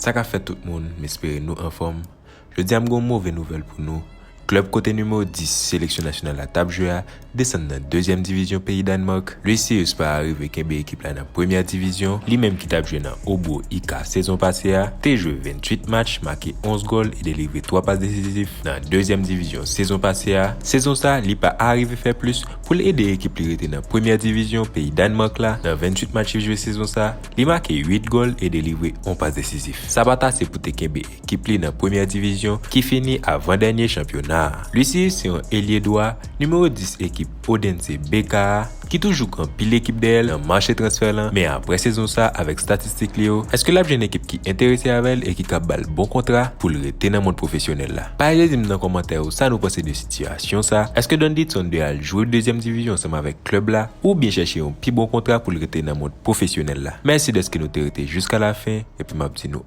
Sa ka fèt tout moun, m espere nou anfòm. Jodi a m gen yon move nouvèl pou nou. Klub kote nimewo 10 seleksyon nasyonal la tap jwe a desann nan dezyèm divizyon peyi Danemark, Lucius pa arive kenbe ekip la nan premyè divizyon, li menm ki tap jwe nan Hobro IK sezon pase a, te jwe 28 match, make 11 gòl e delivre 3 pas desizif nan dezyèm divizyon sezon pase a, sezon sa li pa arive fè plis pou l ede ekip li rete nan premyè divizyon peyi Danemark la, nan 28 match li jwe sezon sa, li make 8 gòl e delivre 1 pas desizif. Sa pat ase pou te kenbe. ekip li nan premyè divizyon ki fini avan dènye chanpyona a. Lucius se yon elye dwa, nimewo 10 ekip Odense BK a, ki toujou pran pil ekip dèyè l nan mache transfè lan, men aprè sezon sa avèk statistik li yo, èske l ap jwenn ekip ki enterese avè l e ki kab ba l bon kontra pou l rete nan mond pwofesyonèl la? Pataje di m nan kòmantè yo sa nou panse de sitiyasyon sa, èske Donditson dwe al jwe dezyèm divizyon ansanm avèk klèb la oubyen chèche yon pi bon kontra pou l rete nan mond pwofesyonèl la? Mèsi dèske nou te rete jiskalafen epi m ap di nou.